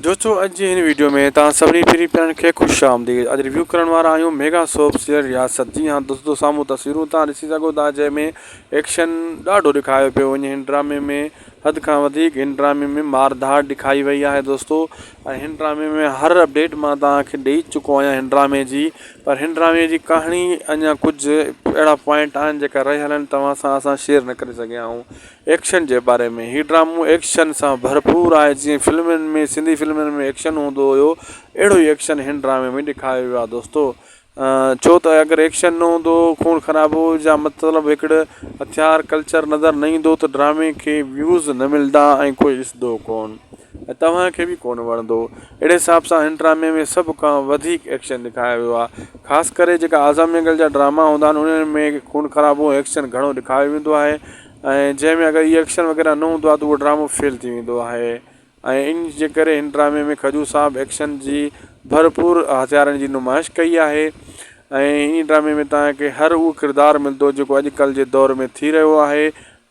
دوستو اڄ جي هن وڊيو ۾ توهان سڀني پھرين پيارن کي خوش آمديد اڄ ريويو ڪرڻ وارا آهيون ميگا سوپ سيئر رياست جي ها دوستو سامهون تصويرون توهان ڏسي سگهو ٿا جنهن ۾ ايڪشن ڏاڍو ڏيکايو پيو وڃي هن ڊرامي ۾ حد کان وڌيڪ هن ڊرامي ۾ مار ڌاڙ ڏيکائي وئي آهي دوستو ۽ هن ڊرامي ۾ هر اپڊيٽ مان توهان کي ڏئي چڪو آهيان هن ڊرامي جي پر هن ڊرامي جي ڪهاڻي اڃا ڪجهه اهڙا پوائنٽ آهن جيڪا رهي هلن توهان سان اسان شيئر نه ڪري سگهيا آهيون ايڪشن جي باري ۾، هي ڊرامو ايڪشن سان ڀرپور آهي، جيئن فلمن ۾ سنڌي فلمن ۾ ايڪشن هوندو هيو، اهڙو ئي ايڪشن هن ڊرامي ۾ ڏيکاريو ويو آهي دوستو، ڇو ته اگر ايڪشن نه هوندو، خون خرابو جا مطلب هڪڙي هٿيار ڪلچر نظر نه ايندو ته ڊرامي کي ويوز نه ملدا ۽ ڪوئي ڏسندو ڪون ۽ توهان کي به ڪون وڻندو، اهڙي حساب سان هن ڊرامي ۾ سڀ کان وڌيڪ ايڪشن ڏيکاريو ويو آهي، خاص ڪري جيڪا آزا مينگل جا ڊراما هوندا آهن انهن ۾ خون خرابو ۽ ايڪشن گهڻو ڏيکاريو ويندو آهي. ۽ جنهن ۾ اگر اهي ايڪشن وغيره نه هوندو آهي ته اهو ڊرامو فيل ٿي ويندو آهي ۽ ان جي ڪري هن ڊرامي ۾ کجو صاحب ايڪشن جي ڀرپور هٿيارن جي نمائش ڪئي آهي ۽ هن ڊرامي ۾ تان کي هر اهو ڪردار ملندو جيڪو اڄ ڪلهه جي دور ۾ ٿي رهيو آهي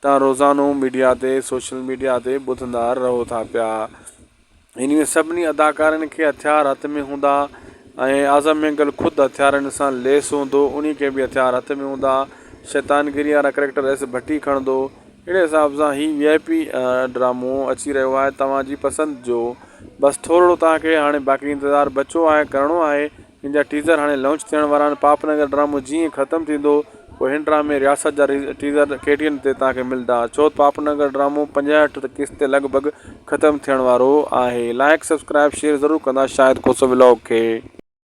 تان روزانو ميڊيا تي سوشل ميڊيا تي ٻڌندا رهو ٿا پيا انهن سڀني اداڪارن کي هٿيار هٿ ۾ هوندا ۽ اعظم مينگل خود هٿيارن سان ليس هوندو انهي کي به هٿيار هٿ ۾ هوندا شيطان گيري وارا ڪريڪٽر ايس ڀٽي کڻندو اهڙي حساب سان هي وي آء پي ڊرامو اچي رهيو آهي توهان جي پسند جو بس ٿورڙو توهان کي هاڻي باقي انتظار بچو آهي ڪرڻو آهي جنهن جا ٽيزر هاڻي لانچ ٿيڻ وارا آهن پاپ نگر ڊرامو جيئن ئي ختم ٿيندو پوء هن ڊرامي رياست جا ٽيزر ڪي ٽي اين تي توهان کي ملدا ڇو پاپ نگر ڊرامو پنجهٺ قسط تي لڳ ڀڳ ختم ٿيڻ وارو آهي لائيڪ سبسڪرائيب شيئر ضرور ڪندا شاهد کوسو ولاگ کي.